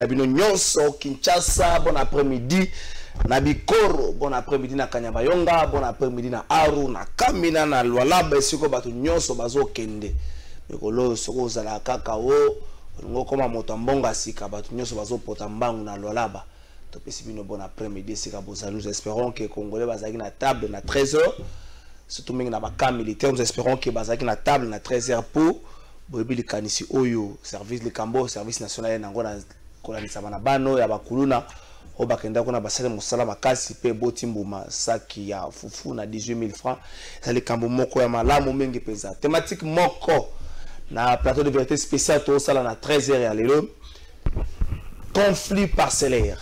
na bino nyonso kinshasa bon après midi na bikoro bon après midi na kanyabayonga bon après midi na aru na kamina na lwalaba esiko bato nyonso bazokende mikolo oyo soki ozala kaka o olingi okoma moto ya mbongo ya sika bato nyonso bazopota mbangu na lwalaba topesi bino bon après midi esika bozali nous espérons que congolais bazalaki na table na 13 heures surtout mingi na bakamp militaire nous espérons que bazalaki na table na 13 heures pour boyebi likanisi oyo service likambo service national ena yango na kolandisama na bano ya bakuluna oyo bakenda kuna basali mosala makasi mpe eboti mbuma saki ya fufu na 18000 francs eza likambo moko ya malamu mingi mpenza thematike moko na plateau de vérité spécial tosala na 13 heures ya lelo conflit parcellaire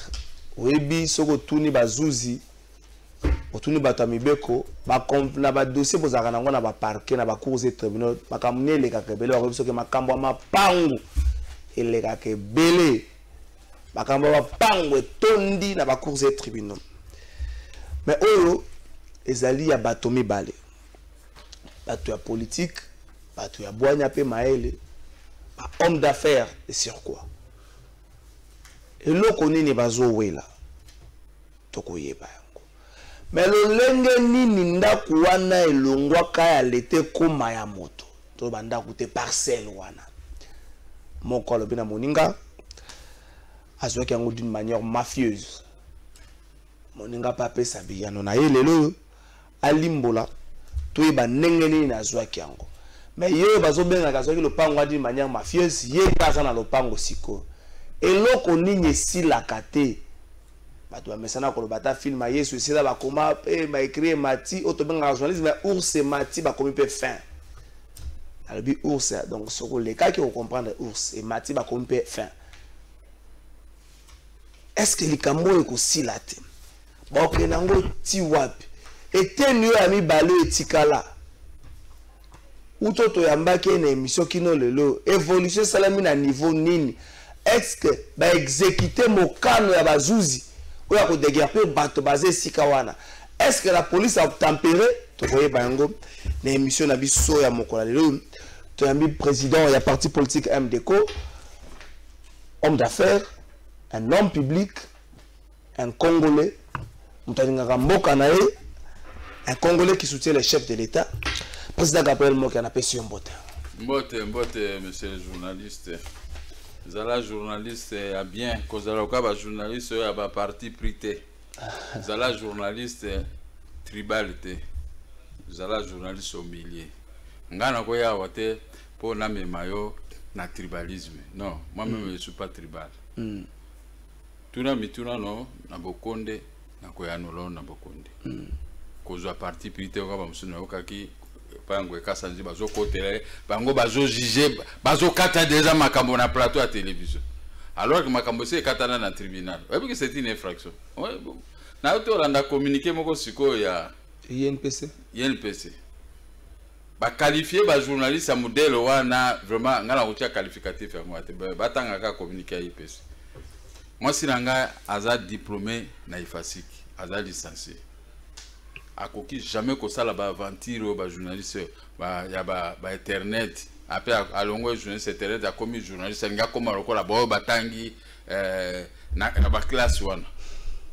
oyebi soki otuni bazuzi otuni bato ya mibeko na badossier bozalaka nango na baparke na bacours e tribunal makambo nini elekaka ebele bakoyebi soki makambo ya mapangu elekaka ebele makambo ya mapangu etondi na bacours e tribunal me oyo ezali ya bato mibale bato ya politike bato ya bwanya mpe mayele bahomme d'affaires esur quoi eloko nini bazowela tokoyeba yango me lolenge nini ndako wana elongwaka ya leta ekoma ya moto to bandako te parcelle wana moko alobi na moninga azwaki yango d'une manière mafieuse moninga mpe apesa biyano na ye lelo oyo alimbola toyeba ndenge nini nazwaki yango me ye oyo bazobengaka azwaki lopango adi manière mafieuse ye mpe aza na lopango sikoyo eloko nini esilaka te bato bamesana koloba ata filme ya yesu esila bakoma mpe baekri emati oyo tobengaka journalisme ya ours emati bakomi mpe fin alobi ours donc soki olekaki okomprendre ours emati bakomi mpe fin est ce que likambo oyo ekosila te baokende yango ti wapi eteni oyo ya mibale oyo etikala uto toyambaki ye na emission kino lelo evolution esalami na niveau nini estce baexekite mokano ya bazuzi oyo ya kodegerpe bato baza esika wana estce la police atempere tokoyeba yango na emission na biso ya mokola lelo toyambi président ya parti politique mdco homme d'affaires un homme public Un Congolais, moto alingaka mboka na ye, un Congolais qui soutient les chefs de l'État, président Gabriel Moki anapesi yo mbote. Mbote, mbote, monsieur le journaliste. Zala journaliste ya bien, kozala oka ba journaliste oyo ya ba parti pris te. Zala journaliste tribal te. Zala journaliste au milieu. Nga nakoya awa te mpo namema yo na tribalisme. Non, moi-même mm. je suis pas tribal. Mm. tuna mituna no na bokonde na koyanolo na bokonde mm. kozwa parti pris te oka bamosusu nayokaki pango ekasa nzi bazokotela ye bango bazojuge bazokata deja makambo na plateau ya télévision alors que makambo esi ekatana na tribunal oyebi ke c'est une infraction nayo tolanda communiqué moko sikoyo ya inpc inpc ba qualifier ba journaliste ya modele wana vraiment ngai nakotia qualificatif yango te batanga kaka communique ya ipesi mwasi na ngai aza diplôme na ifasik aza licencie akoki jamais kosala baaventure oyo bajournaliste ya bainternet ba ape alongwe journaliste internet akomi journaliste alingi akóma lokola baoyo batangi eh, na, na baklasse wana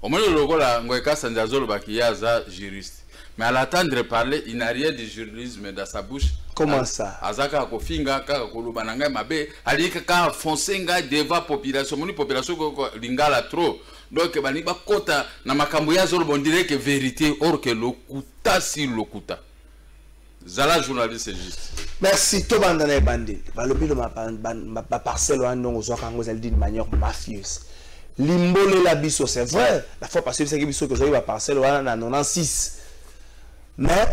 omoni lokola ngoye kasanzi azolobaki ye aza juriste mais à l'attendre parler il n'a rien du journalisme dans sa bouche comment ça aza kaka kofinga kaka koloba na ngai mabe alingi kaka fonce ngai devant population omoni population lingala trop donc balingi bakota na makambo ye azoloba ondire ke vérité or ke lokuta si lokuta zala journaliste juste merci tobanda na ebandeli balobi lo baparcelle wana ndongo ozwaka yango ezali d'une manière mafieuse limbolela biso c'est vrai la fois passé bisaki biso tozwaki baparcelle wana na 96 mais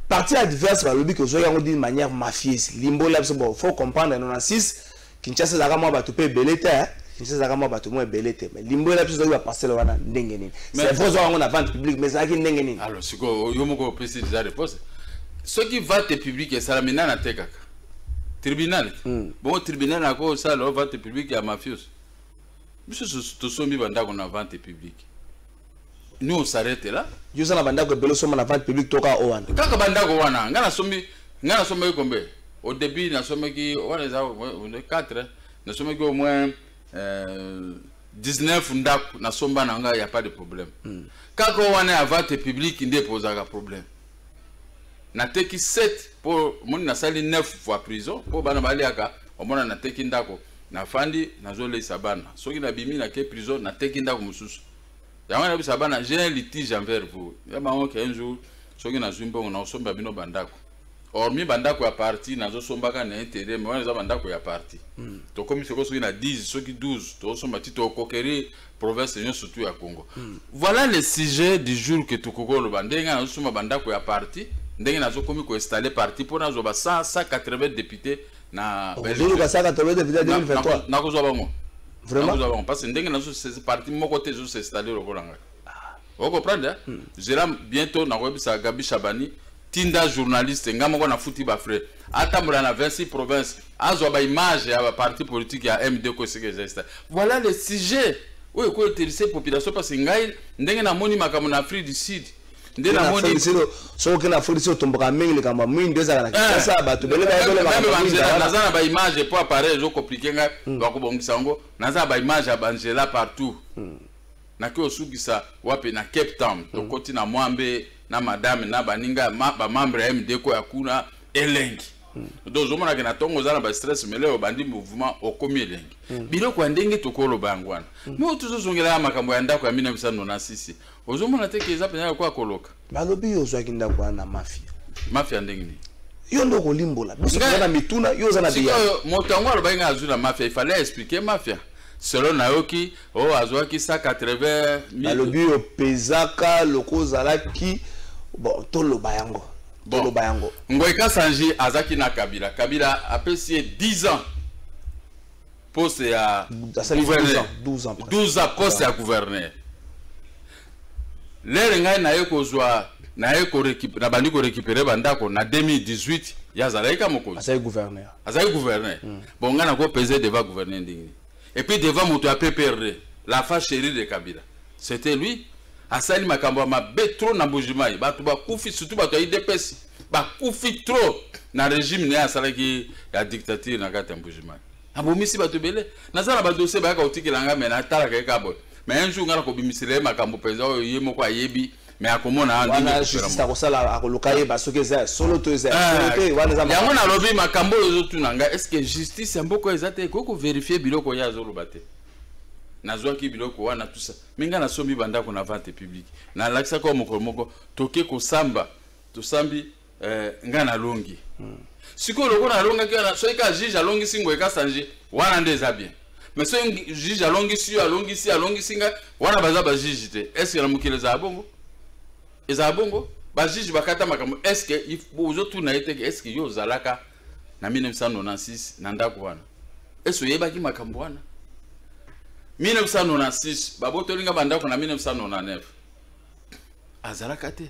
parti adverse balobi kozwaki yango d'une manière mafieuse limbolela biso bon faut comprendre 96 Kinshasa ezalaka mwa bato mpe ebele te eh. Kinshasa ezalaka mwa bato mwa ebele te mais limbolela biso ezalaki baparcele wana ndenge nini c'est vrai ozwaka yango na vente publique mais ezalaki ndenge nini alors sikoyo yo moko opesi deja réponse soki vente publique esalami nani atekaka tribunal hmm. bongo tribunal yango osala vente publique ya mafiose biso tosombi bandako na vente publique Nous on s'arrête là. Yo za na bandako ebele soma na vente publique toka o wana. Kaka bandako wana, nga na sombi, nga na sombi kombe. Au début na sombi ki wana eza 4, na sombi ki au moins euh, 19 ndako na somba na nga ya pas de problème. Mm. Kaka wana ya vente publique nde pozaka problème. Na teki 7 pour moni na sali 9 fois prison pour bana baliaka omona na teki ndako na fandi na zo lesa bana soki na bimi na ke prison na teki ndako mususu yango nayebisa bana j'ai un litige envers vous ya bango ke un jour soki nazwi mbongo nakosombela bino bandako hormis bandako ya parti nazosombaka na intérêt mais wana eza bandako ya parti mm. tokomi soko soki na 10 soki 12 tokosomba ti tokokerie province nyonso surtout ya congo mm. voilà le sujet du jour que tokoki koloba ndenge nazosomba bandako ya parti ndenge nazokomi koinstalle parti mpo nazwa ba 180 député na Okozulu kasaka tolo depuis 2023. Na kozwa bango. Vraiment. Na kozwa bango parce que ndenge na zo c'est parti moko te zo s'installer lokola ngai. Vous comprenez hein? Hmm. Zela bientôt na koyebisa Gabi Shabani tinda journaliste nga moko na futi ba frère. Atambola na 26 provinces azwa ba image ya ba parti politique ya MD ko sike zesta. Voilà le sujet. Oyo ko interesse population parce que ngai ndenge na moni makambo na Afrique du Sud. nde namoni soki okenda afrique si otomboka mingi likambo ya mwindu ezala na kinshasa eh. bato bele bayebenaza na baimage po appareil ezokomplike ngai hmm. bakobongisa yango naza na baimage ya banzela partout hmm. nake osukisa wapi na cape town hmm. tokoti na mwambe na madame na baninga bamembre ya mdeko ya kuna elengi do ozomonake na ntongo oza na bastress mele obandi mouvement okomi elengi biloko ya ndenge tokoloba yango wana me tozozongela ya makambo ya ndako ya 1996 ozomona te ke eza mpenza lokola koloka balobi yo ozwaki ndako wana na mafia mafia ndenge nini yo nde okolimbola biso toza na mituna yo oza na biyaoyo moto yango alobaki ngai azwi na mafia ifale aexplike mafia selo nayoki o oh, azwaki 180 balobi yo pezaka loko ozalaki bon toloba yango toloba yango ngoika sanji azalaki na kabila kabila apesi ye 10 ans poste ya gouverneur 12 ans 12 ans poste ya gouverneur lere ngai naye kozwa naye nabandi korekipere bandako na 2018 ye azalaki ka mokonzi azali gouverneur azali gouverneur mm. bon ngai nakopese deva gouverneur ndenge et puis deva moto ya pprd la fa chérie de kabila c'était lui asali makambo ya mabe trop na mbujimai bato bakufi surtout bato ya idps bakufi trop na régime na ye asalaki ya dictature na kati ya mbujimai abomisi bato ebele naza na badosie bayaka kotikela ngai me natalaka ye kabo me un jour ngai nakobimisela ye makambo mpenza oyo ye moko ayebi me akomona akosala akoluka yeba soki eza ya solo to eza eh, yango nalobi makambo oyo ozotuna ngai estce justice ya mboka eza te ekoki koverifie biloko ye azoloba te nazwaki biloko wana tusa me ngai nasombi bandako na vente publique nalakisaki oyo mokolo moko toke kosamba tosambi eh, ngai nalongi hmm. sikoyo lokola nalongaki wana soki ka juge alongisi ngoye kasanje wana nde eza bien mais soki juge alongisi yo alongisi alongisi ngai wana baza bajuge te estce na mokili ezala bongo ezala bongo bajuge bakata makambo estce ozotuna ye teke estce yo ozalaka na 1996 na ndako wana estce oyebaki makambo wana 1996 babotoli ngai bandako na 1999 azalaka te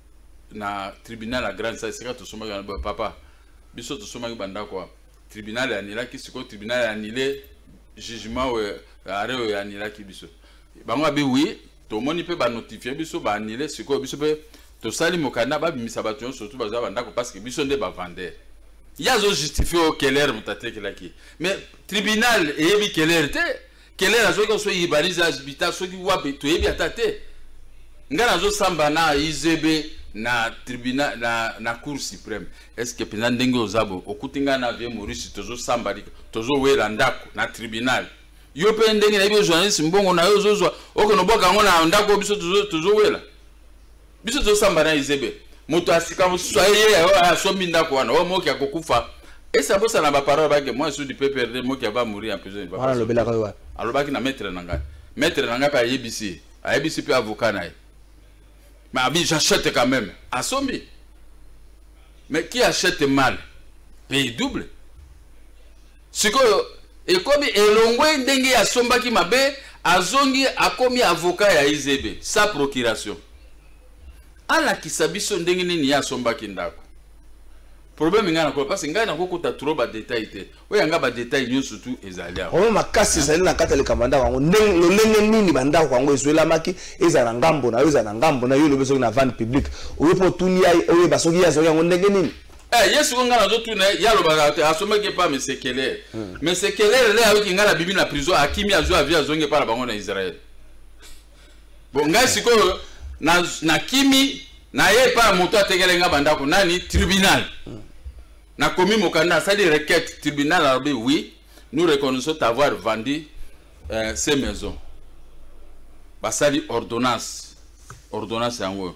na tribunal ya grande salle esika tosombaki wana boye papa biso tosombaki bandako wana tribunal eanilaki sikoyo tribunal eanile jugement oyo arret oyo eanilaki biso bango abi wi tomoni mpe banotifie biso baanile sikoyo biso mpe tosali mokanda babimisa bato nyonso tu baza bandako parce que biso nde bavandere ye azojustifie oyo keller moto atekelaki mais tribunal eyebi keller te kelela soki oso yibalize azibita soki wapi toyebi ata te ngai nazosamba na izb na tribunal na, na cour supreme estce que mpenza ndenge oza bo okuti ngai na vie maurice tozosamba lika tozowela ndako na tribunal yo mpe ndenge nayebi yo journaliste mbongo na yo ozozwa okende obwaka yango na ndako biso tozowela tozo biso tozosamba na izebe moto ya sika mosusu aye ye asombi ndako wana oyo moki akokufa esa bosana baparole bake moi sudi pprd moki ava mourir en prison wana alobelaka yo wapi alobaki na maître na ngai maître na ngai mpe ayebisi ayebisi mpe avocat na ye mais abi j'achète quand même asombi mais qui achète mal paye double Sikoyo ekomi elongwe ndenge asombaki mabe azongi akomi avocat ya IZB sa procuration. Alakisa biso ndenge nini ye asombaki ndako. Problème ngai nakola parce ngai nakokota trop ba détail te. Oya ngai ba détail nyonso tu ezali awa. Problème makasi ezali na kati ya likambo ndako yango ndenge lolenge nini ba ndako yango ezwelamaki ezala na ngambo na yo ezala na ngambo na yo lobi soki na vente publique oyo mpo otuni ye oyeba soki ye azwaki yango ndenge nini Eh, yesu ko ngai nazotuna ye alobaka te asomaki epa mesekelele hmm. mesekelele le ayoki ngai na bibi na prison akimi azwi avi azongi epa na bango na israel bo ngai sikoyo nakimi na ye epa ya moto atekele ngai bandako nani tribunal hmm. nakomi mokanda asali requête tribunal alobi oui nous reconnaissons t'avoir vendu euh, ces maisons basali ordonnance ordonnance yango oyo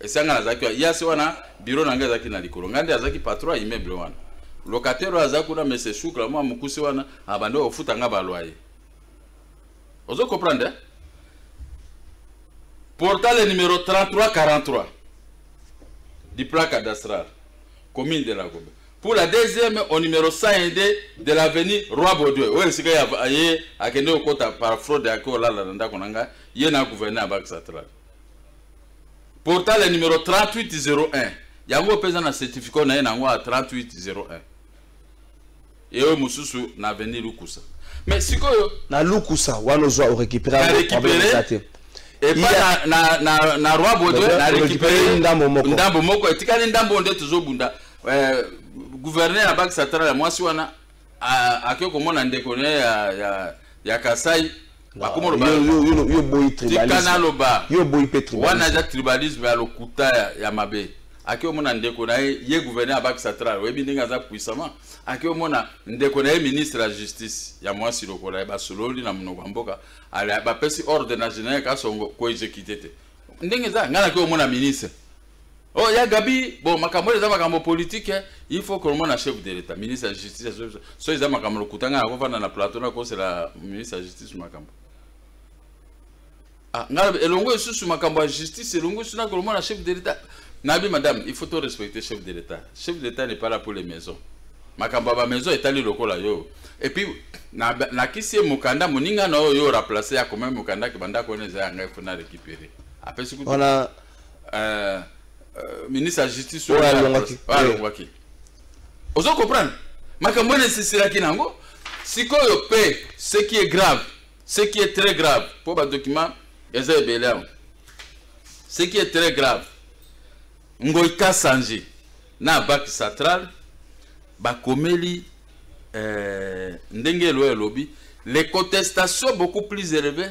esanga nazalaki wa yasi wana biro na ngai ezalaki na likolo ngai nde azalaki patron ya immeuble wana locataire oyo aza kuna mese shukla mwa mokuse wana abandi ah, ofuta ngai baloye ozo comprendre eh? portale numero 3343 du plan cadastral commune de la gobe pour la deuxième au numero 102 de l'avenue roi baudouin oyo esika ye akende kokota par fraude yake olala na ndako na ngai ye na gouverneur ya banque centrale portale ya numero 3801 yango mpe eza na certificat na ye na yango ya 3801 eoyo mosusu na avenir lukusa mais sikoyo na lukusa wana ozwa orekiperaarekipereza te epa yeah. na, na, na, na roi baudouin na récupéré ndambo moko ndambo moko etikali ndambo nde tozobunda eh, gouverneur ya banque centrale ya mwasi wana akoki komona ndeko ne ya, ya, ya kasai bakoma loba yo boyi tribalisme naloba yo boyi pe tribalisme wana eza tribalisme ya lokuta ya, ya mabe ake omona ndeko na ye ye gouverneur abakisa tral oyebi ndenge aza puissamment ake omona ndeko na ye ministre ya justice ya mwasi lokola ye basololi na monoko ya mboka bapesi ordre na general kasongo koexekite te ndenge eza ngai nake omona ministre Oh, ya Gabi, bon, makambo eza makambo politique, hein. il faut qu'on na chef de l'État, ministre de la Justice, so eza makambo lokutanga na kovanda na plateau na kosela ministre de la Justice makambo. Ah, ngala elongo esusu makambo ya justice, elongo esusu na kolomona na chef de l'État. Nabi madame, il faut to respecter chef de l'État. Chef de l'État n'est pas là pour les maisons. Makambo ya ba maison etali lokola yo. Et puis na na kisi mukanda muninga na yo yo remplacer ya komema mukanda kibanda ko neza ya ngai fona récupérer. Après ce que voilà euh, euh, ministre ya justice oyo alongaki alongaki ozo comprendre makambo wana esisilaki nango sikoyo pe ce qui est grave ce qui est très grave mpo badocument eza ebele awa ce qui est très grave ngoi kasanji na bak central bakomeli euh, ndenge elo elobi les contestations beaucoup plus élevées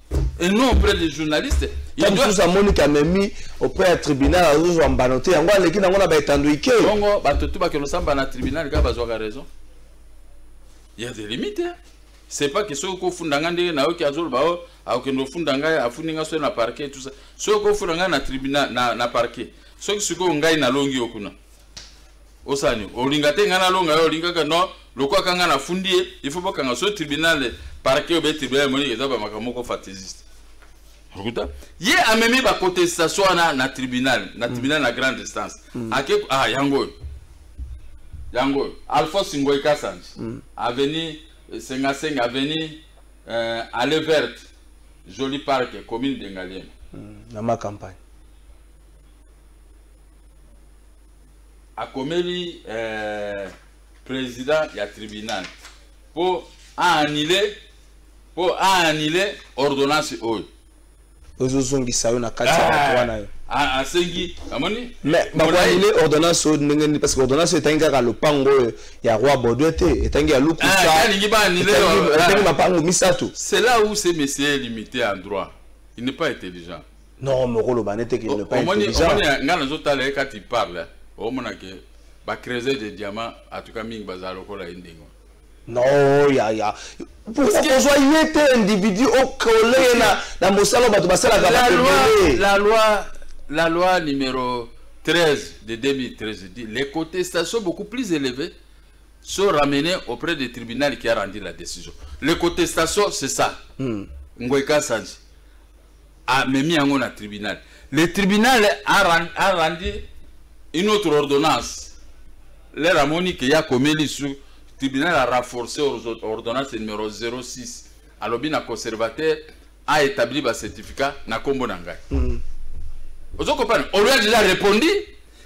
et non auprès des journalistes ntango mosusu amoni kamemi auprès ya tribunal azozwa mbano te yango aleki nango na baetando ike bongo bato tu bakende osamba na tribunal kaka bazwaka raison ya de limite c'est pas que soki kofunda ngai ndenge nayoki azoloba o oh, akokende ofunda ngai afundi ngai soki na parquet tout ça soki kofunda ngai na tribunal na, na parquet soki sikoyo ngai nalongi yo kuna osala nini olinga te ngai nalonga yo olingaka no lokola kanga nafundi ye il faut bakanga so tribunal parquet obe tribunal emoni eza bamakambo moko fatesiste okuta ye amemi bacontestation wana na tribunal na mm. tribunal na grande instance mm. ake ah yango oyo yango oyo alphonse ngoi kasanji mm. aveni eh, sengasenga aveni euh, ale verte joli parc commune dengaliema na macampagne akomeli eh, président ya tribunal mpo aanile mpo aanile ordonnance oyo ezozongisa yo na kati ya bato wana yo asengi amoni mais bakoanile ordonnance oyo ndenge nini parce que ordonnance etangi kaka lopango oyo ya roi baudouin te etangi ya lukusaetangi mapango misato c'est là où ce monsieur est limité en droit il n'est pas intelligent Non, mais okoloba nete qu'il ne pas intelligent. Omoni nga nazo tala ye kati parle. Omona ke ba creuser des diamants en tout cas mingi bazala lokola ye ndenge. Non, ya ya. Pourquoi kozwa ye te individu okole ye na na mosala bato basalaka ba ebele. La loi la loi numéro 13 de 2013 dit les contestations beaucoup plus élevées sont ramenées auprès du tribunal qui a rendu la décision. Les contestations c'est ça. Hmm. Ngoy Kasanji. amemi yango na tribunal le tribunal a rendu une autre ordonnance lere amoni ke ya komeli su tribunal a renforce ordonnance numero 06 alobi na conservateur a établi bacertificat na nkombo na ngai mm. ozo comprendre olio deja repondi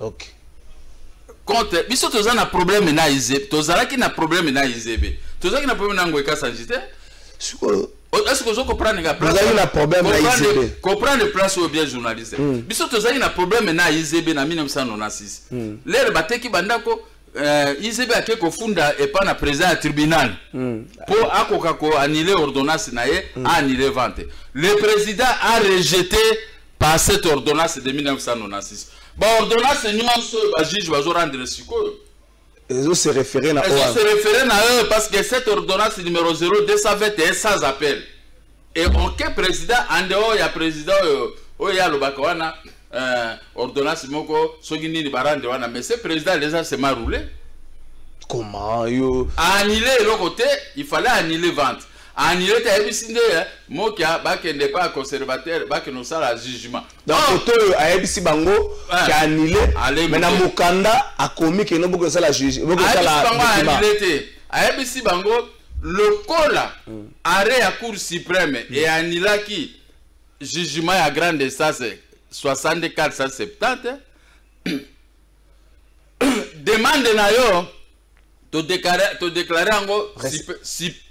ok contre biso toza na problème na izebe tozalaki na problème na izebe tozalaki na problème na ngoyi kasanji te sikoyo est-ce que ozo comprendre nga place ozali na problème na ICB comprendre place oyo bien journaliste hmm. biso tozali na problème na ICB na 1996 hmm. lere bateki bandako euh, ICB ake kofunda epa na président ya tribunal hmm. po akoka ko annuler ordonnance na ye a annuler vente le président a rejeté par cette ordonnance de 1996 baordonnance nyonso oyo bajuge bazorendre sikoyo ezo se référer na ezo se référer na eux parce que cette ordonnance numéro 0220 est sans appel et aucun président en dehors ya président oyo oyo ye alobaka wana euh, ordonnance moko soki nini barande wana mais ce président déjà se maroule comment yo annule eloko te il fallait annule vente Anilete ayebisi nde eh, mokia bakende epai ya conservateur bakende kosala jugement donc oh! koto oyo ayebisi bango eh, ke anile me na mokanda akomi keno bokoki kosala jugement te ayebisi bango lokola hmm. arret ya cour suprême hmm. eyanilaki jugement ya grande instance 6470 demande na yo to déclarer to déclarer yango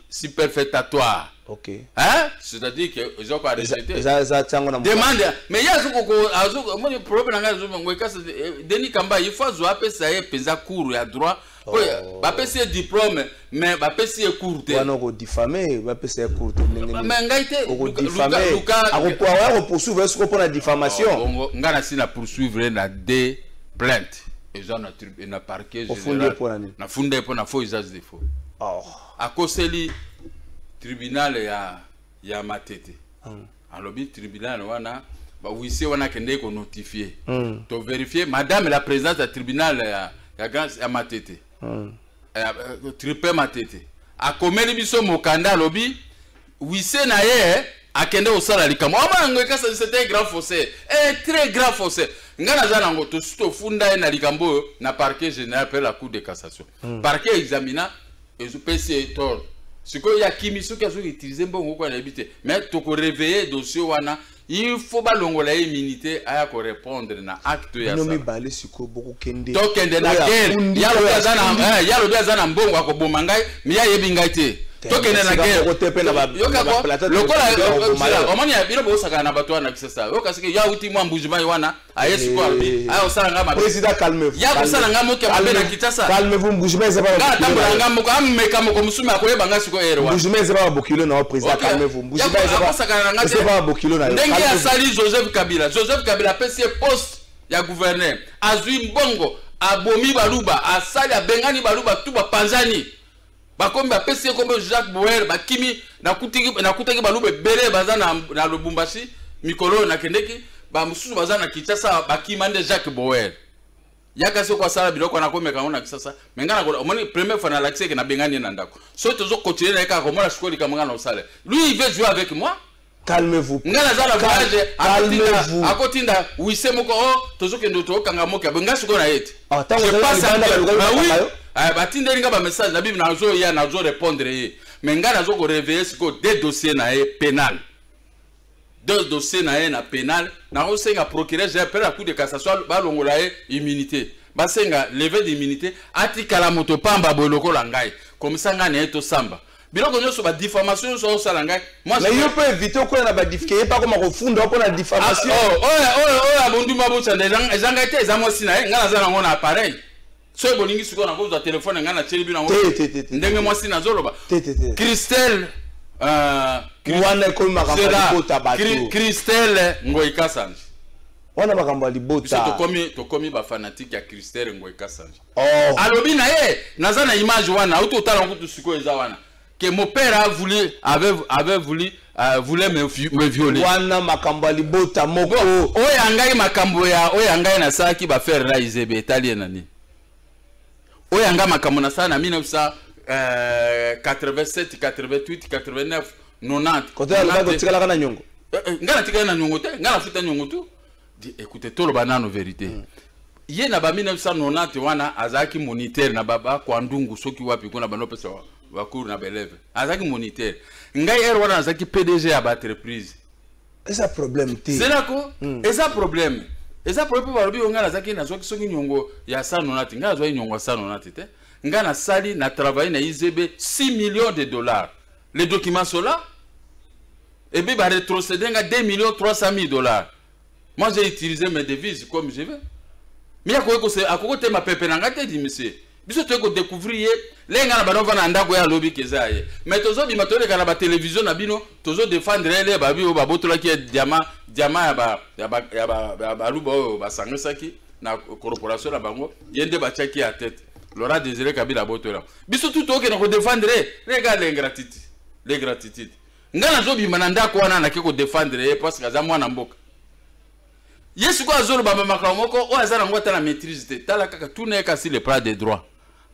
superfétatoire ok hein c'est-à-dire que oza ko arrêter eza eza tiango na demande mais ya zuko ko azuko moni problème nga zuko ngwe kasi eh, Denis Kamba il faut zo apesa ye penza cours ya droit po oh. ba pesa diplôme mais ba pesa ye cours te wana ko diffamer ba pesa ye cours te ndenge mais ngai te ko diffamer ako ko poursuivre ce ko pona diffamation oh, nga na si na poursuivre na deux plaintes eza na eh, na parquet général na funda mpo na faux usage de faux oh. akoseli tribunal ya ya matete mm. alobi tribunal wana bawise wana akendeki konotifie mm. toverifie madame la présidence ya tribunal ya, ya, ya matete hmm. eh, eh, tripe matete akomeli biso mokanda alobi wise na ye akende kosala likambo aba yango ekasa c'était grand fossé e eh, très grand fossé ngai naza nango tosi tofunda ye na likambo oyo na parquet général mpe la cour de cassation hmm. parquet examina ezopesi ye tord sikoyo ya kimi soki azoki utilize mbongo oko anayebi te mais tokoreveille dossier wana il faut balongola ye immunité aya ko répondre na acte ya bino mibale sikoyo bokokende tokende na guerre yalobi aza na eh, yalobi aza na mbongo akoboma ngai mi ayebi ngai te tokende na guerreyokakola omoni bino bokosakana na bato wana kisasa yoka soki ya uti mwa mbujimayi wana aye sikoyo alobi Eh. aya kosala nga mabe Président, calmez-vous. ya kosala nga moke ya mabe na Calmez-vous. kinshasa Calmez-vous, Mbuji Mayi, eza ba- nga atambola nga moko ameka moko mosume akoyeba nga sikoyo ere wana Mbuji Mayi, eza ba bokilo na yo, président, Ok. calmez-vous. Mbuji Ya Mayi, eza ba- akosakana na nga eza te. ba bokilo na yo, ndenge calmez-vous. asali joseph kabila joseph kabila apesi ye poste ya gouverneur azwi mbongo abomi baluba asali abengani baluba tu bapanzani bakomi bapesi ye kombo jacques boer bakimi nakutaki baluba ebele baza na, na lubumbashi mikolo oyo nakendeki bamosusu baza na kinshasa bakima nde jacques boer yaka soki asala biloko wana akomeka yango na kisasa me ngai nakola omoni première fois nalakisi eke nabengani ye na ndako soki tozokontinue na ye kaka komona sikoyo likambo ngai na osala lui il veut jouer avec moi calmez-vous nga naza na voyage calmez-vous akotinda wise moko o oh, tozokende tokanga moki ya boye nga sikoyo na ye te ah, je passe à ah oui eh, batindeli nga bamessage na bibi nazoya nazo répondre ye mais nga nazo koreveille sikoyo de dossier na ye pénal deux dossier na ye na pénal nakosenga procureur général mpe na cour de cassation balongola ye immunité basenga leve d'immunité atikala moto pamba boye lokola ngai komisa ngai na ye tosamba biloko nyonso ba diffamation nyonso osala ngai mais yo mpe évite okoya na ba diffike ye mpe akoma kofunda mpo na diffamation ah, oh, oyo oyo oyo abonduma bosanda eza ngai te eza mwasi na ye ngai naza nango na appareil soki bolingi sikoyo nakozwa telefone ngai natyeli bino yango ndenge mwasi nazoloba christelle euh, wana ekomaka libota bato christelle ngoi kasanji wana makambo ya libota tokomi tokomi ba fanatique ya Christelle Ngoy Kasanji oh. alobi na ye naza na image wana auti otala yango kutu sikoyo eza wana que mon père a voulu, avait, avait voulu, euh, voulait me, me violer. Wana makambo ya libota moko. Oyo angai makambo ya oyo angai nasalaki ba faire la izebe etali nani. Oyo angai makambo nasala na 1987, 88, 89, 90. Kote ya lokola kotikalaka na nyongo. Eh, eh, ngai natikali na nyongo te, ngai nafuta nyongo tu. Écoutez, tout le banane vérité. Mm. ye na ba 1990 wana azalaki moniteur na baba kwandungu soki wapi kuna banopesa bacour na baeleve azalaki moniteur ngai ere wana nazalaki pdg ya baentreprise eza problème te zelako mm. eza problème eza problème mpo balobi yo ngai nazalaki nazwaki soki nyongo ya sanonati ngai nazwaki nyongo ya sanonati te ngai nasali na travaille na izb 6 millions de dollars les documents sola Et puis, bah, rétrocéder 2 millions 300 000 dollars. Moi, j'ai utilisé mes devises comme je veux. Mais à quoi tu ma pépé n'a gâté, dit monsieur. biso toyei kodécouvrir ye lenge nga na bana ovanda na ndako ye alobi keza ye mais tozobima toyoleka na batelevizio na bino tozodefendre ye le babi oyo babotolaki ye diama diama ya baluba oyo basangisaki na corporation na bango ye nde batiaki ya tete lora désiré kabila abotola biso tu toyokena kodefendre ye lega lengratitude lengratitude nga nazobima na ndako wana nake kodefendre ye parceke aza mwana mboka ye sikoyo azoloba bamakambo moko oyo aza nango ata na maîtrise te tala kaka tuna ye kasi le plat de droit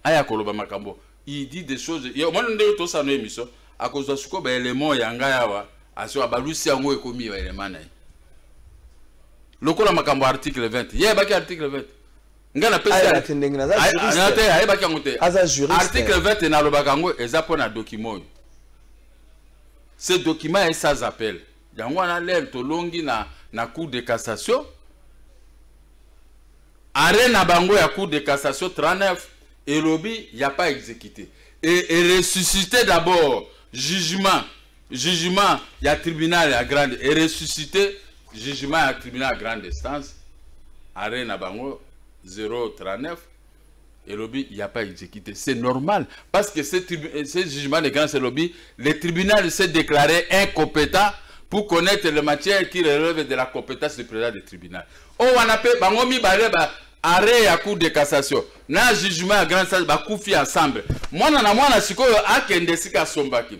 aya koloba makambo il dit des choses omoni ndenge tosano émission akozwa sikoyo baelement ya ngai awa aso abalusi yango ekomi baelement na ye lokola makambo article 20 ye ayebaki article 20 ngai napesite ayebaki yango te article 20 nalobaka yango eza mpo na document oyo ce document est sans appel yango wana lel tolongi na, na cour de cassation arrêt na bango ya cour de cassation 39 elobi ya pas exécuté et, et ressuscité d'abord jugement jugement ya tribunal ya grande et ressuscité jugement ya tribunal ya grande instance arrêt na bango 039 elobi il n'y a pas exécuté. C'est normal parce que ce, euh, ce jugement de grand lobby, le tribunal s'est déclaré incompétent pour connaître les matières qui relèvent de la compétence du président du tribunal. Oh, on appelle bango mibale ba arrêt à cour de cassation na jugement à grand sage bakufi ensemble mwana na mwana sikoyo akende esika asombaki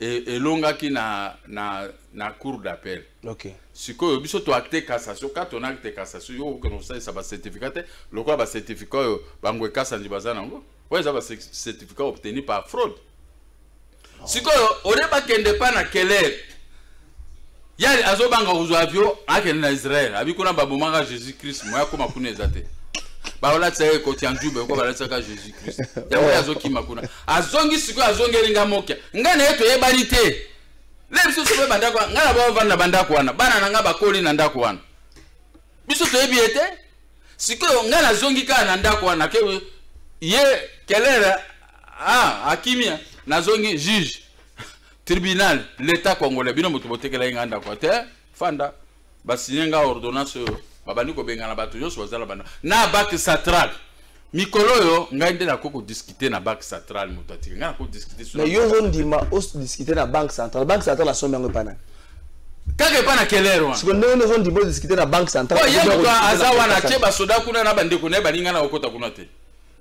e, elongaki na, na, na cour d'appel okay. sikoyo biso toacte cassation kati on acte cassation yo okokende kosalisa bacertificat te lokola bacertificat oyo bango ekasandi baza nango oyo eza bacertificat obtenu par fraude sikoyo olie bakende pa na keler yali azobanga kozwa avio akende na israel abi kuna babomaka jesus christ moya akoma kuna eza te baolatisa ye ekoti ya nzube oko balatisaka jesus christ yango ye azokima kuna azongi sikoyo azongeli nga mokia ngai na ye toyebani te le biso sope bandako wana ngai na baovandi na bandako wana bana na ngai bakoli na ndako wana biso toyebi ye te sikoyo ngai nazongi kaka na ndako wana ke ye kelere ah, akimia nazongi juge tribunal l'etat congolais bino moto botekela ye ngai ndako te fanda basigne ngai ordonnance oyo babandi kobengana bato nyonso bazala banda na bak satral mikolo oyo ngai nde nakoki kodiskute na banque centrale moto atiki ngai nakoki kodiskute na yo ozondima odiskute na banque centrale banque centrale asombi yango epa nani kaka epa na kelere wana siko ndenge ozondima odiskute na banque centrale ye moto aza wana atie basoda kuna na bandeko na ye baninga na kokota kuna te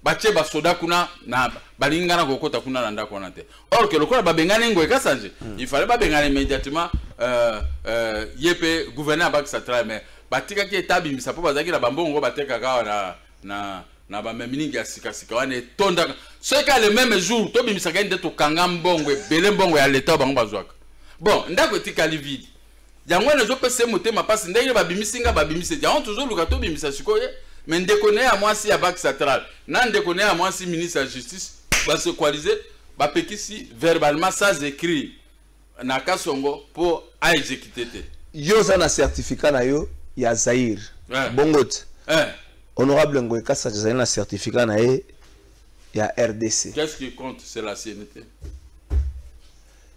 batie basoda kuna na balingi ngai nakokota kuna na ndako wana te or ke lokola babengani ngoye kasanje mm. il fallait babengana immédiatement euh, euh, ye mpe gouverneur abakisa trai mais batikaki eta abimisa mpo bazalaki na bambongo batekaka awa na, na, na bameminingi ya sikasika wana etondaka soki a le meme jour tobimisaka ye nde tokanga mbongo ebele mbongo ya leta oyo bango bazwaka bon ndako etikali vide yango wana ezopesa ye motema mpasi ndenge babimisi nga babimisi ete yango tozoluka tobimisa sikoyo me ndeko na ye ya mwasi ya bak central na ndeko na ye ya mwasi ministre ya justice basequalise bapekisi verbalement sans écrit na kasongo mpo aexekite te yo oza na certificat na yo ya zaire eh. bongo te eh. honorable ngoy kasa azali na certificat na ye ya rdc qu'est ce qui compte c'est la cnité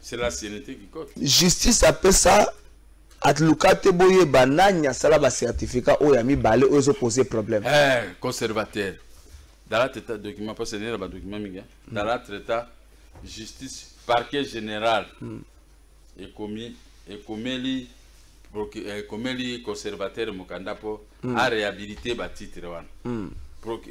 C'est la CNT qui cote. Justice apesa atluka te boyeba nani asala ba certificat oyo ya mibale oyo ezopose problème eh, conservateur dala teta document parce que nena badocument mingi mm. dala treta justice parquet général mm. ekomi ekomeli ekomeli eh, conservateur mokanda mpo mm. aréhabilite batitre wana mm.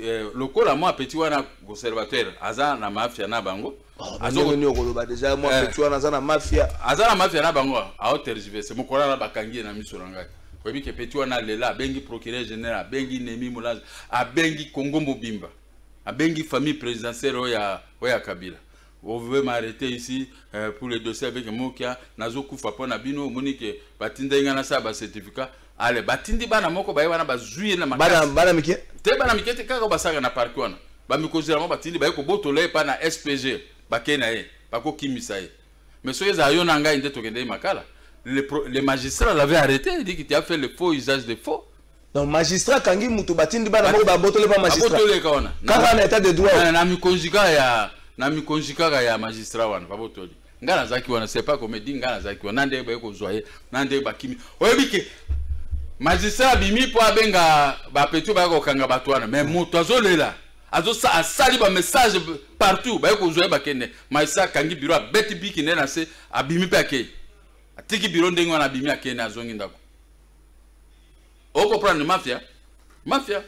eh, lokola mwa petit wana conservateur aza na mafia na bango azongoni okoloba deja mwa eh. petit wana aza na mafia aza na mafia na bango aotergiverse mokolo wana bakangi ye na miso na ngai oyebi ke petit wana alela abengi procureur général abengi nemi molange abengi congo mobimba abengi famille présidentielle oyo ya oyo ya kabila vous pouvez m'arrêter ici euh, pour le dossier avec mokia nazokufa mpo na bino omoni ke batindaki ngai nasala bacertificat ale batindi bana moko baye wana bazwi ye na makasi bana mike te bana mike te kaka basaka na parki wana bamikonzi yango batindi baye kobotola ye epai na spg bakei na ye bakokimisa ye mais soki ezala yo na ngai nde tokende ye makala le, pro, le magistrat l'avait arrêté il dit que tu as fait le faux usage de faux donc magistrat akangi moto batindi bana moko babotole pa magistratabotoleka wana kaka na état de droit na mikonzi kaka ya na mikonzi kaka ya magistrat wana babotoli nga nazalaki wana c'est pas comme dit nga nazalaki wana nde baye kozwa ye na nde bakimi oyebi ke magistrat abimi mpo abenga bapetio baya kokanga bato wana mais moto azolela azosa asali bamessage partout baye kozwa ye bakende magistrat akangi biro abeti biki nde na se abimi mpe akei atiki biro ndenge wana abimi akei na azongi ndako o comprendre mafia mafia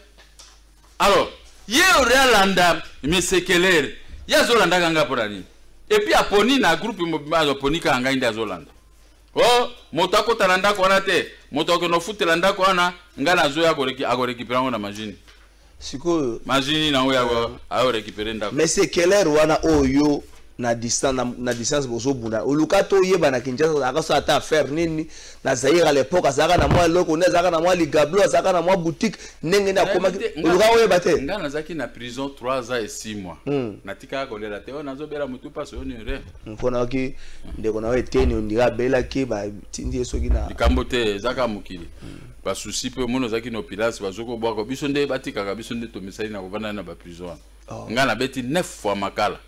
alors ye ori alanda mesekelere ye azolandaka ngai mpona nini epuis aponi na groupe aponi kaka ngai nde azolanda o oh, moto akota na ndako wana te moto akokende ofutela ndako wana ngai nazoya akorekipera yango na mashine sikoyo mazwi nini yango yako euh, ayo récupérer ndako mais c'est quelle heure wana oyo na distance na, na distance bozobunda oluka toyeba na kinshasa azalaka so ata affaire nini na zaire à l'époque azalaka na mwa eloko nde azalaka na mwa ligablo azalaka na mwa boutique ndenge nde akomaki oluka oyeba te ngai nazalaki na prison 3 ans et 6 mois hmm. natikaka kolela te oyo oh, nazobela motu mpasi oyo nire mpo nayoki ndeko na yo eteni ondika abelaki batindi ye soki na likambo te ezaka mokili hmm. ba souci pe mona ozalaki na opilasi bazoki obwaka biso nde batikaka biso nde tomesani na kovanda na baprison wana oh. ngai nabeti 9 fois makala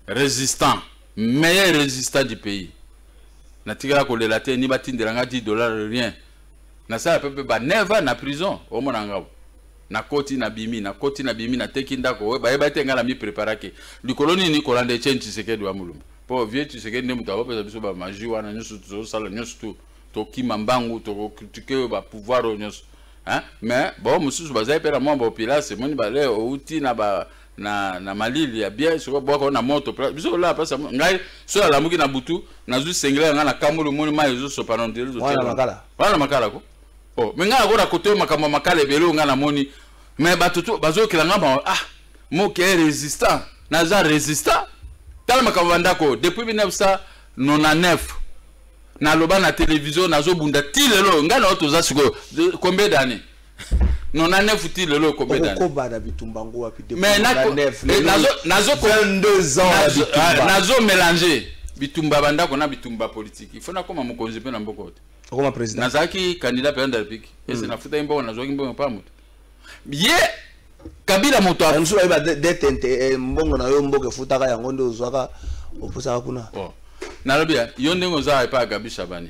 résistant meilleur résistant du pays natikala kolela te ni batindela ngai 10 dollar rien nasala pe mpe ba 9 na prison omona ngabo nakoti nabimi nakoti nabimi nateki ndako oyo bayeba te ngai namipreparaki likolo nini kolanda etienne tshisekedi wa molumba mpo vieux tshisekedi nde moto akopesa biso bamaji wana nyonso tozosala nyonso tout tokima mbangu tokokritike oyo bapouvoir oyo nyonso mais bao mosusu bazali mpe na mwa baopilase moni bale outi na ba na, na malili ya bien sikoyo bwaka na moto biso olaa mpasa ngai soki alamuki na butu nazwi sengele ya ngai na kamoli omoni mai ezosopana wana makala ko o oh, me ngai nakoda kotoyo makambo ya makala ebele oyo ngai namoni me bato to bazoyokela ngai mawa ah moke resistant naza resistant tala makambo ya ndako depuis 1999 naloba na televizio nazobunda ti lelo ngai na yo toza sikoyo combien d'année non na nefu ti lelo okombe dani okoba na bitumba yango wapi mais na nefu eh, nazo nazo 22 ans na bitumba nazo mélanger bitumba bandako na bitumba politique il faut nakoma mokonzi mpe na mboko te okoma président nazalaki candidat président de la république ese hmm. nafutaki mboko nazwaki mbongo mpa moto ye kabila moto a- mosusu bayeba detente eh, mbongo na yo mboka efutaka yango nde ozwaka opusaka kuna Bon. nalobi ya, yo ndenge oza epai ya gabi shabani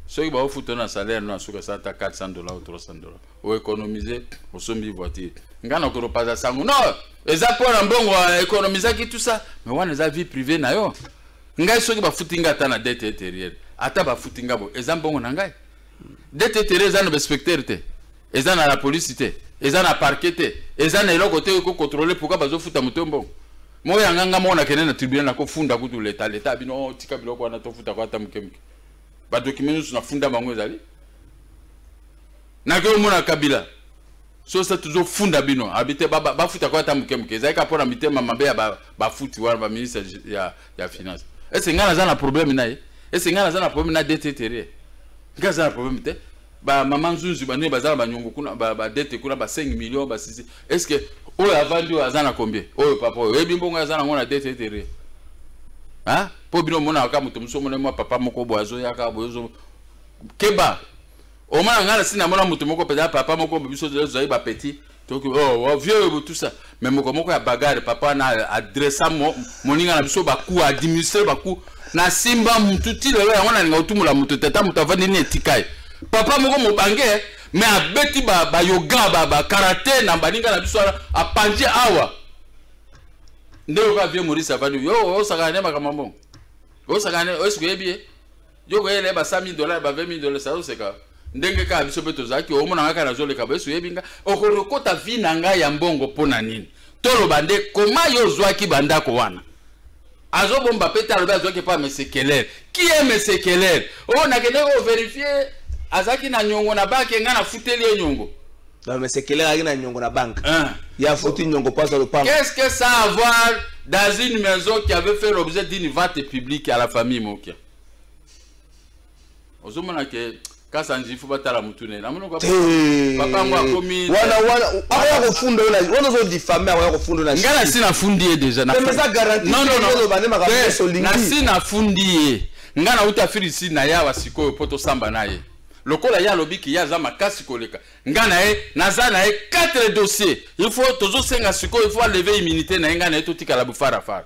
soki baofuta na salaire no asuka esa ata 400 dollar ou 300 dollar oeconomise osombi voiture ngai nakolopaza sango no eza mpo na mbongo economisaki tout ça mais wana eza vie privée na yo ngai soki bafuti ngai ata na dete intérieure ata bafuti ngai bo eza mbongo na ngai dete tere eza na bainspecteur te eza na la police te eza na parquet te eza na eloko te ko contrôler pourquoi bazofuta moto mbongo moko yanga nga moko nakende na tribunal nakofunda kutu leta leta bino oh, tika biloko wana tofuta ko ata moke moke badokima nyonso nafunda bango ezali nakei omona kabila sosa tozofunda bino abi te bafuta ko ata moke moke ezalaki mpo na mitema mabe ya bafuti wana baministre ya ya finance ese ngai naza na problème na ye ese ngai naza na problème na dete terrier ngai aza na problème te bamama nzunzu banini baza na banyongo kuna badete kuna ba 5 million ba 6 est ce que oyo avandi oyo aza na combien oyo papa oyo oyebi mbongo aza nango na dete terrier hein mpo bino omonaka kaka moto mosusu omona mwa papa moko boye azoyaka boye ozo keba omona ngai nasi namona moto moko mpenza papa moko biso tozali bapetit toki oh, vieux oyo tout ça mais mokomoko ya bagare papa na adressa moninga na biso baku administre baku na simba mutu ti lelo yango nalinga kotumola moto tata moto avandi ni etika ye papa moko mobange mais abeti bayoga ba bakarate na baninga na biso wana apanzi awa nde oyoka vieux maurice avandi yo osakana ne makambo mbongo osakana ne oyebi ye yo koyela ye ba 100 000 dollars ba 20 000 dollars azoseka ndenge kaka biso mpe tozalaki omona kaka nazoleka boyesu oyebi nga okolokota vi na ngai ya mbongo mpo na nini toloba nde koma yo ozwaki bandako wana azobomba mpe te alobi azwaki mpo amesekelele ki ye mesekelele oyo oh, nakendeki overifie azalaki na nyongo na bake ngai nafuteli ye nyongo mesekele azalaki na nyongo na banke ah. ya futi nyongo mpo aza lopango qu'est ce que ça avoir dans une maison qui avait fait l'objet d'une vente publique à la famille mokia ozomona ke kasa nzifu batala motu ne namoni papa yango akomi wana wana akoya kofunda yo na wana ozo diffame akoya kofunda na ngai nasi nafundi ye deja napesa garanti non non non bande makambo nyonso olingi nasi nafundi ye ngai nauta afiri si na yawa sikoyo mpo tosamba na ye lokola ye alobi ke ye aza makasi koleka ngai na ye naza na ye 4 dossier il faut tozosenga sikoyo il faut aleve immunité na ye ngai na ye totikala bofarafara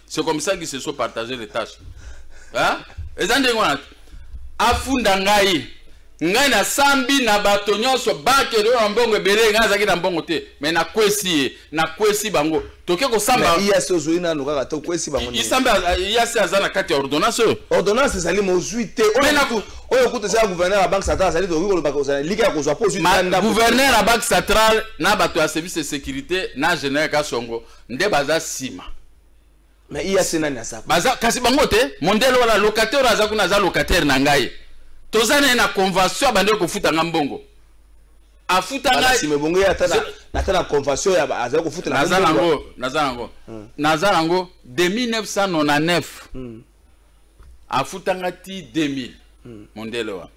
c'est comme ça qu'ils se sont partagé les tâches hein? eza ndenge wana afunda ngai ngai nasambi na bato nyonso bakende oyo na mbongo ebele ngai azalaki na mbongo te me nakwesi ye nakwesi bango toke kosambaiasi ozwi nano kaka te okwesi bangoisambi iasi aza na kati ya ordonnance oyo ordonnance ezali mozwi te oyo kutu ezala gouverneur ya banque centrale azali tokoki kolobaka ozala lika ya kozwa mpo ozwi gouverneur ya banque centrale na bato ya service de sécurité na général kasongo nde baza sima mais iya se nani aza baza kasi bango te mondele wana locataire aza kuna aza locataire na ngai toza naye na convention abandi kofuta nga mbongo afuta ngaibongo ata na convention ya azali kofuta naza nango naza nango hmm. naza nango de 1999 hmm. afuta nga ti 2000 hmm. mondele wana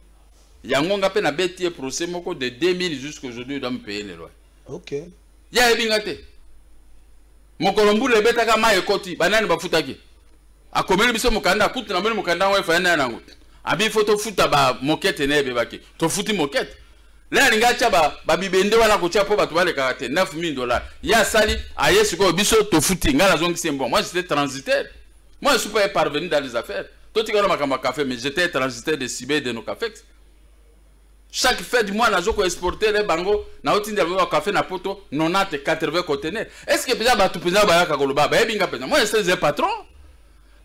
yango nga mpe nabeti ye procès moko de 2000 jusqu'aujourd'hui doit me paye le loyer okay. ye ayebi nga te mokolo mbula ebetaka mai ekoti banani bafutaki akomeli biso mokanda kutu namoni mokanda yango efaya naye nango abi fo tofuta bamokete na ebebaki tofuti mokete le alingi atya babibende ba wana kotya mpo bato balekaka te 9000 dollar ye asali aye sikoyo biso tofuti ngai nazongisi mbongo moi j'étais transitaire moi je suis pas parvenu dans les affaires totikala makambo ya café mais j'étais transitaire de sibe de nos cafex chaque fin du mois nazo ko exporter les bango na otindela bango café na poto 90 80 conteneurs est ce que peza batu peza bayaka koloba bayebi nga peza moi je suis un patron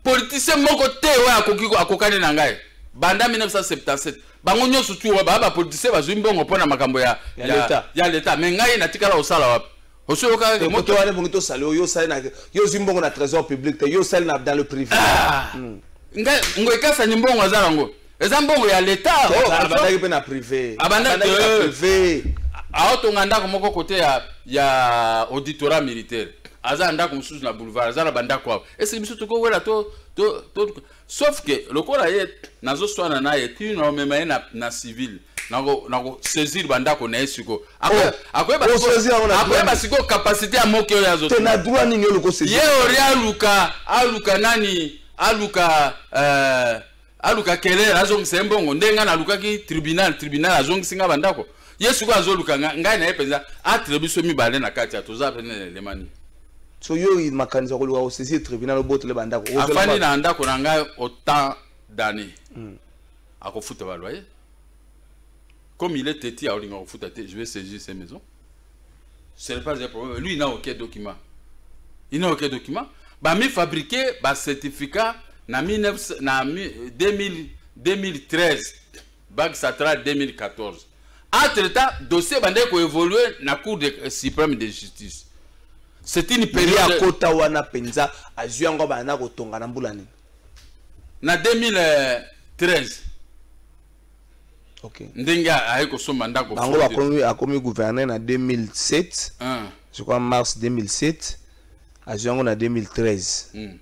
politicien moko te oyo akoki akokani na ngai banda 1977 bango nyonso tu oyo baa bapolitisien bazwi mbongo mpo na makambo ya, ya, ya, ya leta me ngai natikala kosala wapi osoyokaka ke moto wana ebongi tosala yo osali na yo ozwi mbongo na trésor public te yo osali na dans le privé ah! hmm. ngai ngo ekasani mbongo aza nango eza mbongo ya leta oh, abandaki mpe na privé abandaki na euh, privé aotonga ndako moko kote ya ya auditorat militaire aza na ndako mosusu na boulevard aza na bandako awa esili biso tokowela to to sauf que lokola ye nazoswana na ye ti naomema ye na, na civil nakosaisir bandako na ye sikoyo oh, akoyeba sikoyo kapasité ya moke oyo azoye ori aluka aluka nani aluka euh, aluka kelere azongisa ye mbongo ndenge ngai nalukaki tribunal tribunal azongisi ngai bandako ye sikoyo azoluka ngai na ye mpenza atre biso mibale na kati ya toza pene elemani so yo makanisi ya koluka kosaisir tribunal obotole bandako afandi na ndako na ngai autant d'année hmm. akofuta baloyer comme il est teti aolinga kofuta te je vais saisir ses maisons ce n'est pas un problème lui il n'a aucun document il n'a aucun document bamifabrike bacertificat na, na 2000, 2013 Bac Satra 2014. Entre temps, dossier bandait ko évoluer na Cour de, euh, suprême de justice. C'est une période. Ya kota wana penza azui yango bana ko tonga na mbula nini? Na 2013. Okay. Ndenge aye ko somba ndako. Bango bakomi akomi gouverner na 2007. Hein. Je crois mars 2007. Azui yango na 2013. Hmm.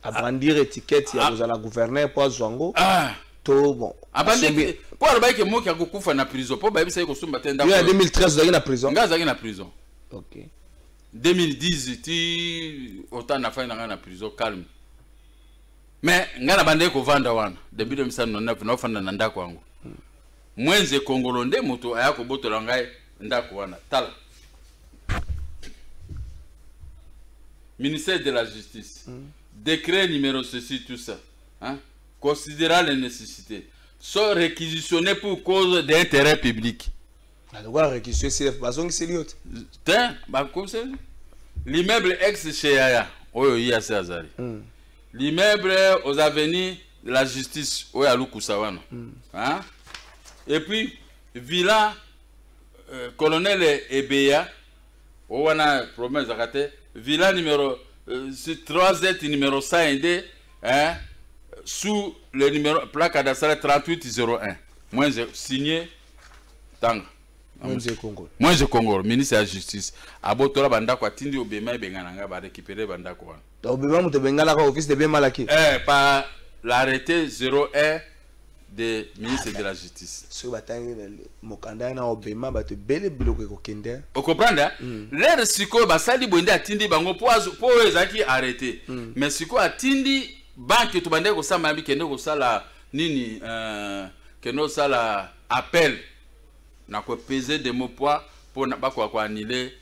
abrandir etiquette ya ah. kozala gouverneur mpo azwa yango ah. to bon abandi mpo alobaki ke moki akokufa na prison mpo bayebisaki kosomba te ndako ya 2013 ozalaki na prison ngai azalaki na prison ok 2010 ti otan nafai na ngai na prison calme mais ngai nabandaki kovanda wana depuis 2009 naofanda na ndako yango mwenze kongolo nde moto aya kobotola ngai ndako wana tala ministère de la justice mm. décret numéro ceci tout ça hein? considérant les nécessités sont réquisitionnés pour cause d'intérêt public nalokola réquisition cf bazongiseli yo te te bakomiseli l'immeuble ex chez yaya oyo ye asi azali mm. l'immeuble aux avenues de la justice oyo alukusa wana mm. hein? et puis villa Euh, colonel ebeya o wana problème ezalaka te villa numéro euh, 3 numéro 100 nde hein, sous le numéro plaque cadastre 3801 moins signé tanga mwenze kongolo mwenze kongolo ministre ya justice abotola bandako atindi obema ebengana ngai barécupere bandako wana obema moto ebenganaka office de bien malaki eh, par l'arrêté 01 de ministre de la justice soki batangi mokanda yana obema bato ebele biloko ekokende okomprendre hein? mm. lere sikoyo basali boye nde atindi bango mpo oyo ezalaki arrete mm. mais sikoyo atindi banke tobandaki kosamba yabi kende kosala nini euh, kende kosala appel na kopese demo poids mpo bakoka koanile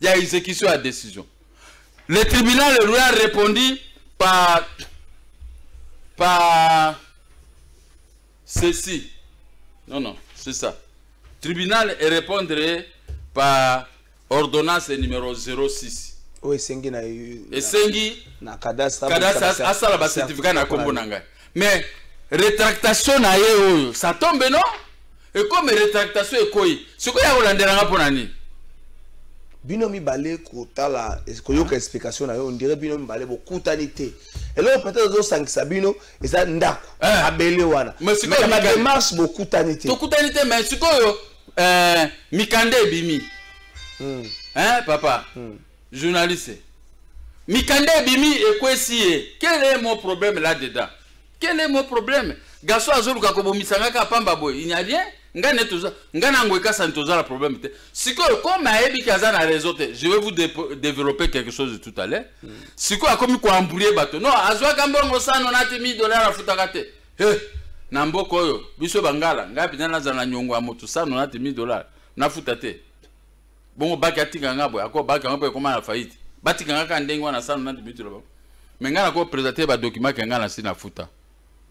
Il y a exécution à décision. Le tribunal lui a répondu par, par ceci. Non, non, c'est ça. Tribunal et répondre par ordonnance numéro 06. oyo esengi na esengi na cadastre asala bacertificat na nkombo na ngai mais retractation na ye oyo ça tombe non ekomi retractation ekoyi sikoyo ya kolandela nga mpo na nini bino mibale kotala koyoka ah. explication na yo ondire bino mibale bokutani te eloko peut-être ozosangisa bino eza ndako eh. abele wana na démarche bokutani te tokutani te mais sikoyo eh, mikanda ebimi hmm. hein, papa hmm. Journaliste. Mikanda ebimi ekwesi ye. Quel est mon problème là dedans? Quel est mon problème? Gaso azoluka kobomisa nga ka pamba boye. Il n'y a rien. Nga ne toza nga na ngwe kasa toza la problème te. Sikoyo comme ayebi kaza na réseau te, je vais vous dé développer quelque chose tout à l'heure. Mm. Sikoyo akomi ko embrouiller bato. Non, azwa kambongo sana na te 1000 dollars afutaka te. He. Hey. na mboka oyo biso bangala ngai mpenza nazala na nyongo ya moto sano na te 1000 dollars nafuta te bongo baki atika nga boye ako baki yango mpe ekoma na faillite batika nga kaka ndenge wana sano na dimitu loba me ngai nako présente badokima ke ngai nasi nafuta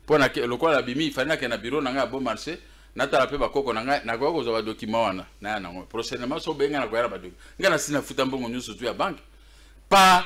mpo na lokola nabimi ifali nake na biro na ngai ya beau marché natala mpe bakoko na ngai nakoya kozwa badokima wana naya nango prochainement so obenga nakoya na badokima ngai nasi nafuta mbongo nyonso tu ya banke pa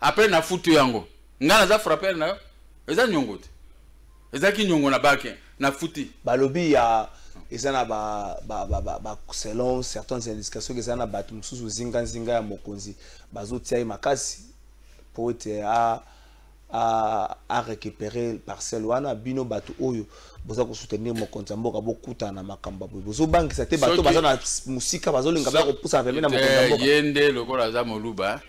après na futu yango nga naza frapper na yo eza nyongo te ezalaki nyongo na bake na futi balobi ya eza na ba, ba, ba, ba, ba selon certaines indications eza na bato mosusu zinganzinga ya mokonzi bazotia ye makasi mpo ete a, a, a récupérer parcelle wana bino bato oyo boza kosoutenir mokonzi ya mboka bokutana na makambo boye bozobangisa te bato baza na mosika bazolinga baya kopusana pembe na mokonzi ya mboka ye nde lokola aza moluba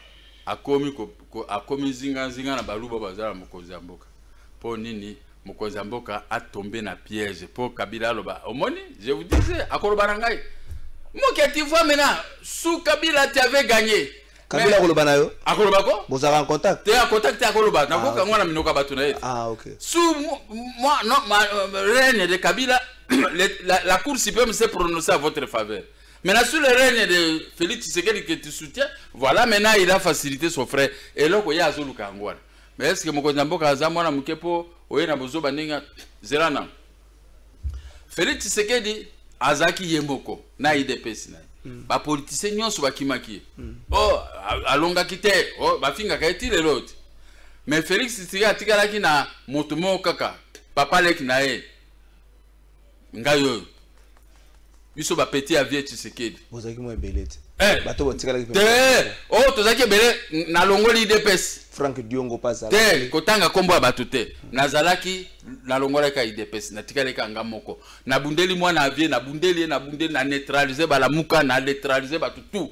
akomi ko, ko, akomi zinga zinga na baluba bazala mokonzi ya mboka po nini mokonzi ya mboka atombe na piège po kabila aloba omoni je vous disais akoloba na ngai moke tu vois maintenant sous kabila tu avais gagné kabila akoloba na yo akoloba ko bozalaka en contact te en contact te akoloba ah, nakoka yango na minoko ya bato na ye ah, sous moi non ma euh, reine de kabila la, la cour suprême s'est prononcée à votre faveur Maintenant, sous le règne de Félix Tshisekedi que tu soutiens, voilà, maintenant, il a facilité son frère. Et là, il y a Azou Lukangouane. Mais est-ce que mon cousin Boka Azamou, na Moukepo, Oye na Bozo Baninga, Zelana. Félix Tshisekedi, Azaki Yemoko, na IDPS. Na. Mm. Ba politiciens nyonso bakimaki. Mm. Oh, alongaki te. Oh, bafingaka ye ti lelo te. Mais Félix Tshisekedi atikalaki na moto moko kaka, papa leki na ye. ngai oyo biso bapeti ya vie tshisekedi bozalaki mwa ebele te eh. bato botikalaki te oyo oh, tozalaki ebele nalongoli idps frank diongo mpe azala te kotanga nkombo ya bato te nazalaki nalongolaki ya idps natikalaki yanga moko nabundeli mwana ya vie nabundeli ye nabundeli na neutralize balamuka na neutralize bato tout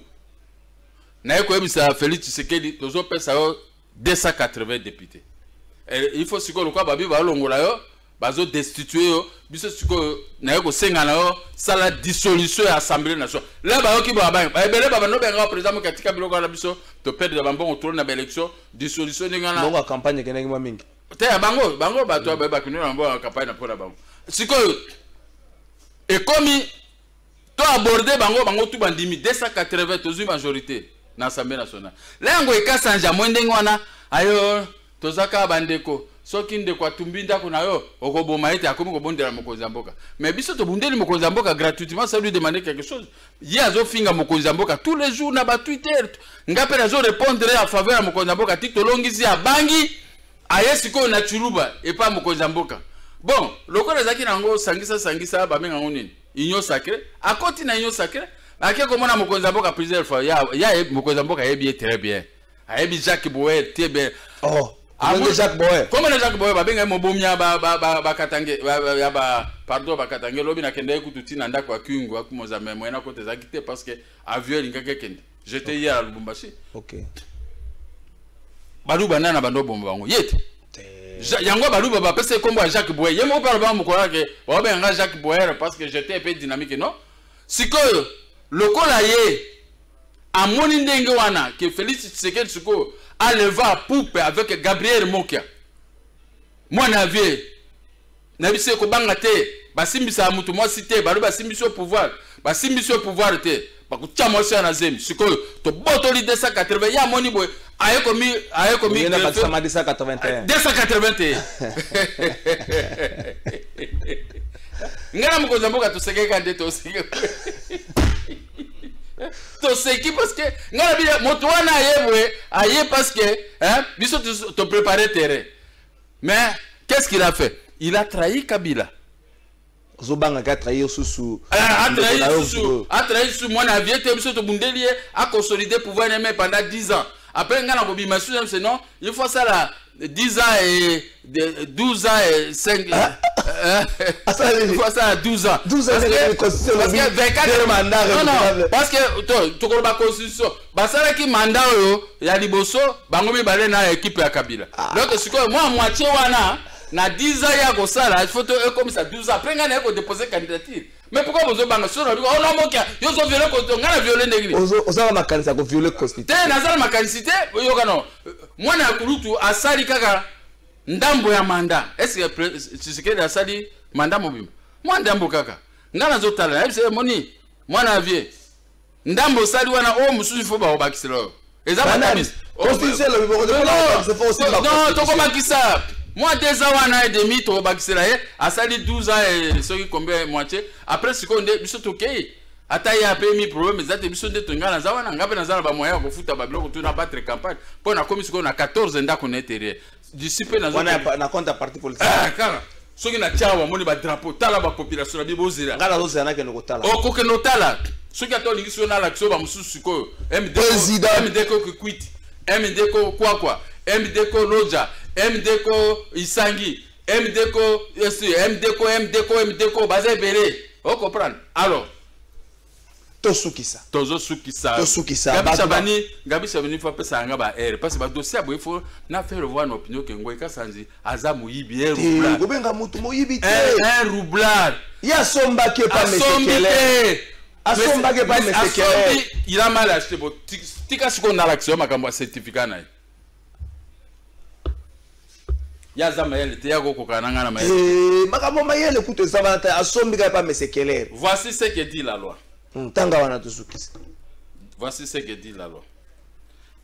naye koyebisa félix tshisekedi tozopesa yo 280 députés eh, il faut sikoyo lokola babi balongola yo bazo destitue yo biso sikoyo naye kosenga na yo sala dissolution ya assemblée nationale la bayoki babangi ebele babando benga président moki atika biloko wana biso toperdre bambongo tolo na baélection dissolution ndenge wana bongo campagne ekendaki mwa mingi te ya bango bango bato mm. bakino na bango campagne na mpo na bango sikoyo ekomi to aborde bango bango tu bandimi 280 tozwi majorité na assemblée nationale la yango ekasanja mwe ndenge wana ayo toza kaka bandeko soki ndeko atumbi ndako na yo okoboma ete akomi kobondela mokonzi ya mboka mais biso tobundeli mokonzi ya mboka gratuitement ça lui demander quelque chose ye azofinga mokonzi ya mboka tous les jours na batwitter nga mpe nazo répondre ya faveur ya mokonzi ya mboka ti tolongisi abangi aye sikoyo na chuluba epa mokonzi ya mboka bon lokola ezalaki na yango sangisa sangisa babenga yango nini union sacré akoti na union sacré ake komona mokonzi ya mboka plusieurs fois ya, ya mokonzi ya mboka ayebi ye très bien ayebi jacques boer te bien oh. Amoni Jacques Boyer. Comment na Jacques Boyer babenga mobomi ya ba ba ba ba katange ya ba pardon ba katange lobi na kende kutu tina ndako ya kingu akumozame moyena kote ezaki te parce que avion elingaki kende. J'étais okay. hier à Lubumbashi. Ok. Baluba nana bando bomba bango. Yete. yango baluba bapesa ye nkombo ya jacques boyer ye moko mpe alobaka mokolo yake baobenga nga jacques boyer parce que j'étais mpe dynamique non sikoyo lokola ye amoni ndenge wana ke félix tshisekedi sikoyo aleva poupe avec gabriel mokia mwana vie na biso ekobanga te basimbisaka moto mwasi te balobi basimbisi yo pouvoir basimbisi yo pouvoir te bakotya mwasi ya na zemi sikoyo tobotoli 280 ye amoni boye aye komi aye komi 281 281 ngai na mokonzi ya mboka tosekeka nde toseke toseki parceke ngai na bino moto wana aye boye aye parceke biso toprepare terrain Mais qu'est-ce qu'il a fait Il a trahi Kabila. ozobanga ke atrahir susu ah, atrahir susu mwana ya vie te biso tobundeli ye aconsolide pouvoir neme pendant 10 ans après ngai nakobima susu yamse non il faut asala 10 ans et 12 ans et 5 ah. il faut asala 12 ans parce que 24 non non parce que tokoloba constitution basalaki manda oyo ya liboso bango mibale na ekipe ya kabila ah. donc sikoyo mwa moitie wana na 10 ans ya kosala il faut to ekomisa 12 ans mpe ngai naye kodepose candidature mais pourquoi bozobanga sona biko ona mokia yo zo viole constitution ngai na viole ndenge nini oza na makanisi ya ko viole constitution te naza na makanisi te yoka no mwana ya kulutu asali kaka ndambo ya manda eske tshisekedi asali manda mobimba mwa ndambo kaka ngai nazotala nayebisa ye moni mwana ya vie ndambo osali wana oyo mosusu ifo bakobakisela oyo eza matabisi tokobakisa mwa deux ans wana edemi tokobakisela ye asali 12 ans eh, soki combien moitié après sikoyo nde biso tokei ata ye apemi problème eza te biso nde tonga naza wana ngai mpe naza na bamoyen ya kofuta babiloko tu na battre campagne mpo nakomi sikoyo na 14 ndako na eterie d'ici pe nazo wana na compte ya parti politique ah kaka soki na tia wa moni ba drapeau tala ba population na bibo zela ngala zo zela ke no kotala o oh, ko ke no tala soki ata olingi so na la kiso ba mususu sikoyo MD président MD ko kwiti MD ko kwa kwa MD ko loja MD ko isangi MD ko MD ko MD ko MD ko baza ebele o oh, comprendre alors tosukisa tozosukisa tosukisa gabi chabani gabi chabani fo apesa yanga ba aire parce que badossier ya boye fo na faire voir na opinion ke ngoyi kasanzi aza moyibi e roublard kobenga motu moyibi te un roublard ye asombaki epa mesekele asombaki epa mesekele il a mal acheté bo tika sikoyo nalakisa yo makambo ya certificat na ye ya aza mayele te yako kokana na ngai na mayele eh, makambo mayele kutu eza wana te asombi kaka pa mesekelere voici ce que dit la loi ntanga hmm, wana tosukisa voici ce que dit la loi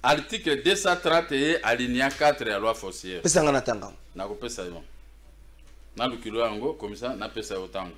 article 230 ye alinia 4 ya loi foncière pesa ngai na tanga nakopesa yo naluki loi yango komisa napesa yo tanga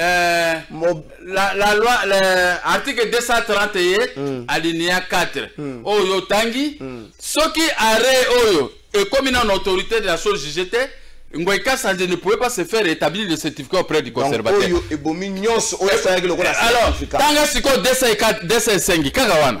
Euh, la, la loi l'article 231 mm. alinéa 4 mm. oyo otangi mm. soki arrêt oyo ekomi na autorité de la chose jugée te Ngoy Kassandje ne pouvait pas se faire établir le certificat auprès du conservateur. Donc, oyo ebomi nyonso oyo asalaki lokola certificat. Alors, tanga siko 204 205 kaka wana.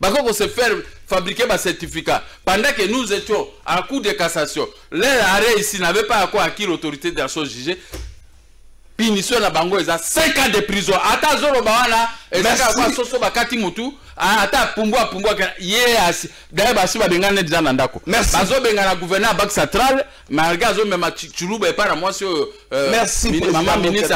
bako ko se faire fabriquer ba certificat pendant que nous étions à cour de cassation leur arrêt ici n'avait pas encore acquis l'autorité de la chose jugée punition na bango eza 5 ans de prison ata azoloba wana ezaka kwa soso bakati mutu ata pumbwa pumbwa ye asi d'ailleurs basi babengana ne deja na ndako bazobengana gouverneur ya banque centrale malgré azomema chuluba epai na mwasi oyo euh, mama ministre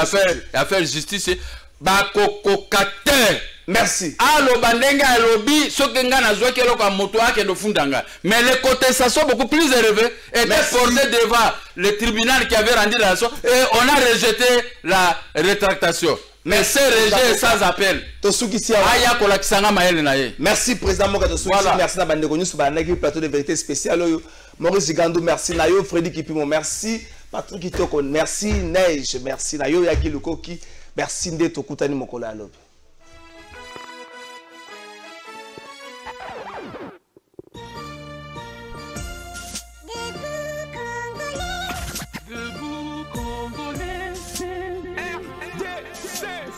affaire justice bakokoka te merci aloba ndenge alobi soki ngai nazwaki eloko ya moto akende ofunda ngai mais le contestation beaucoup plus élevé était porté devant le tribunal qui avait rendu la leçon et on a rejeté la rétractation mais ce rejet est sans appel tosukisi awa aya kolakisa ngai mayele na ye merci président moka tosukisi merci na bandeko nyonso balandaki plateau de vérité spécial oyo Maurice Zigandu, merci. Nayo, Freddy Kipimo, merci. Patrick Itoko, merci. Neige, merci. Nayo, Yagi Lukoki, merci. Nde, Tokutani Mokolo ya Lobe.